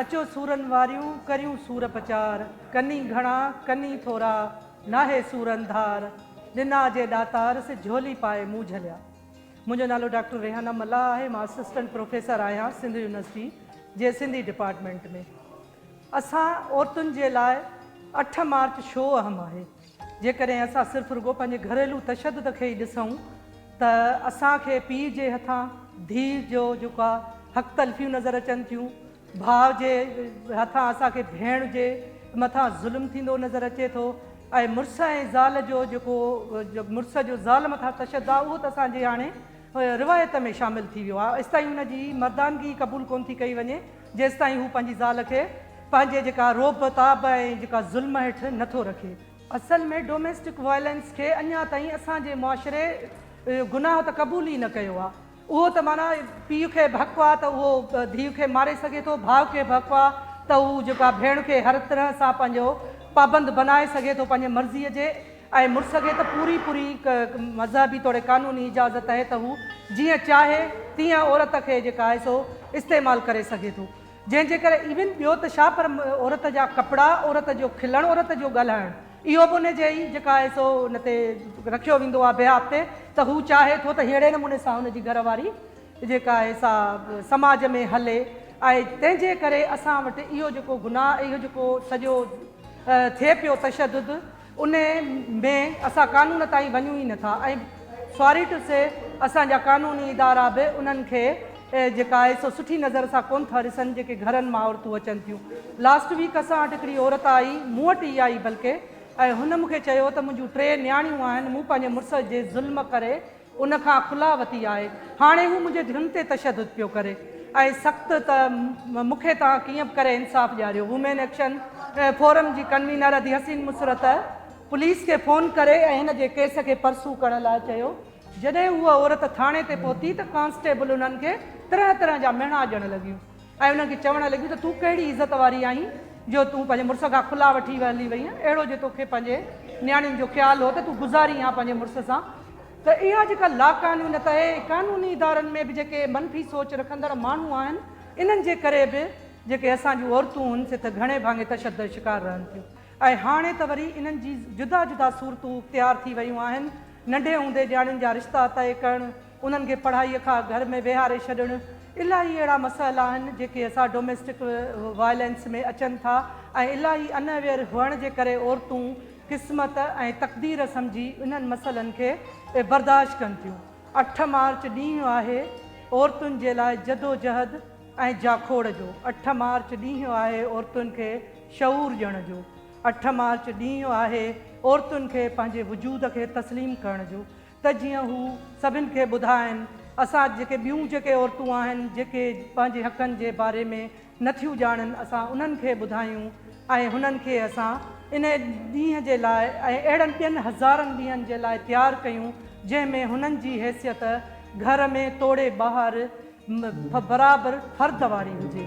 اچو سورن واريون ڪريون سور پچار، ڪني گهڻا ڪني ٿورا، ناهي سورن ڌار، ڏنا جي ڏاتار سي جهولي پائي مون جهليا. منهنجو نالو ڊاڪٽر ريحانه ملاح آهي مان اسسٽنٽ پروفيسر آهيان سنڌ يونيورسٽي جي سنڌي ڊپارٽمينٽ ۾ اسان عورتن جي لاء اٺ مارچ شو اهم آهي. جيڪڏهن اسان صرف رڳو پنهنجي گهريلو تشدد کي ئي ڏسون ته اسان کي پيء جي هٿان ڌيء جو جيڪا حق تلفيون نظر اچن ٿيون، ڀاء جي هٿان اسان کي ڀيڻ جي مٿان ظلم ٿيندو نظر اچي ٿو ۽ مڙس ۽ زال جو جيڪو مڙس جو زال مٿان تشدد آهي اهو ته اسان جي هاڻي روايت ۾ شامل ٿي ويو آهي ايستائين ان جي مردانگي قبول ڪونه ٿي ڪئي وڃي. جيستائين هو پنهنجي زال کي پنهنجي جيڪا رعب تاب ۽ جيڪا ظلم هيٺ نه ٿو رکي. اصل ۾ ڊوميسٽڪ وائلنس کي اڃا تائين اسان جي معاشري گناهه ته قبول ئي نه ڪيو آ. اهو ته معنيٰ پيء کي به حق آ ته اهو ڌيء کي ماري سگهي ٿو، ڀاء کي به حق آ ته هو جيڪا ڀيڻ کي هر طرح سان پنهنجو پابند بنائي سگهي ٿو پنهنجي مرضيء جي. ۽ مڙس کي ته پوري پوري مذهبي توڙي قانوني اجازت اهي ته هو جيئن چاهي تيئن عورت کي جيڪا آهي سو استعمال ڪري سگهي ٿو جنهن جي ڪري ايون ٻيو ته ڇا پر عورت جا ڪپڙا عورت جو کلڻ عورت جو ڳالهائڻ اهو به ان جي ئي جيڪا آهي سو ان تي رکيو ويندو آهي بهاف تي ته هو چاهي ٿو ته ههڙي نموني سان هن جي گهر واري جيڪا آهي سا سماج ۾ هلي ۽ تنهن جي ڪري اسان وٽ اهو جيڪو گناهه اهو جيڪو سڄو ٿئي پيو تشدد ان ۾ اسان قانون تائين وڃون ئي نٿا ۽ ساري ٽو سي اسان جا قانوني ادارا به انهن کي جيڪا آهي سو سٺي نظر سان ڪون ٿا ڏسن جيڪي گهرن مان عورتون اچن ٿيون لاسٽ ويڪ اسان وٽ هڪڙي عورت آئي مون وٽ ئي آئي بلڪه ۽ هن مون کي چيو ته منهنجون ٽي نياڻيون آهن مون پنهنجي مڙس جي ظلم ڪري ان کان خلا وتي آهي. هاڻي هو منهنجي ڌين تي تشدد پيو ڪري ۽ سخت ته مون کي توهان ڪيئن به ڪري انصاف ڏياريو. وومين ايڪشن فورم جي ڪنوينر ادي حسين مسرت پوليس کي فون ڪري ۽ هن جي ڪيس کي پرسو ڪرڻ لاء چيو. جڏهن هوء عورت ٿاڻي تي پهتي ته ڪانسٽيبل انهن کي طرح طرح جا مهڻا ڏيڻ لڳيون. ۽ انهن کي چوڻ لڳيون ته تون ڪهڙي عزت واري آهين جو تون پنهنجي مڙس کان کلا وٺي هلي وئين اهڙو جي توکي پنهنجي نياڻين جو خيال هو ته تون گذارين ها پنهنجي مڙس سان ته اها جيڪا لاقانونيت اهي قانوني ادارن ۾ به جيڪي منفي سوچ رکندڙ ماڻهو آهن انهن جي ڪري به جيڪي اسان جون عورتون هن سٿ گهڻي ڀاڱي تشدد شڪار رهن ٿيون ۽ هاڻي ته وري انهن جي جدا جدا صورتون اختيار ٿي ويون آهن ننڍي هوندي نياڻين جا رشتا طئي ڪرڻ. انهن کي پڙهائي کان گهر ۾ ويهاري ڇڏڻ، الاهي اهڙا مسئلا آهن جيڪي اسان ڊوميسٽڪ وائلنس ۾ اچن ٿا ۽ الاهي انويئر هئڻ جي ڪري عورتون قسمت ۽ تقدير سمجهي انهن مسئلن کي برداشت ڪن ٿيون. اٺ مارچ ڏينهن آهي عورتن جي لاء جدوجهد ۽ جاکوڙ جو، اٺ مارچ ڏينهن آهي عورتن کي شعور ڏيڻ جو، اٺ مارچ ڏينهن آهي عورتن کي پنهنجي وجود کي تسليم ڪرڻ جو، ته جيئن هو سڀن کي ٻڌائين اسان جيڪي ٻيون جيڪي عورتون آهن جيڪي پنهنجي حقن جي باري ۾ نه ٿيون ڄاڻن اسان انهن کي ٻڌايون ۽ هنن کي اسان ان ڏينهن جي لاء ۽ اهڙن ٻين هزارن ڏينهن جي لاء تيار ڪيون جنهن ۾ هنن جي حيثيت گهر ۾ توڙي ٻاهر برابر فرد واري هجي.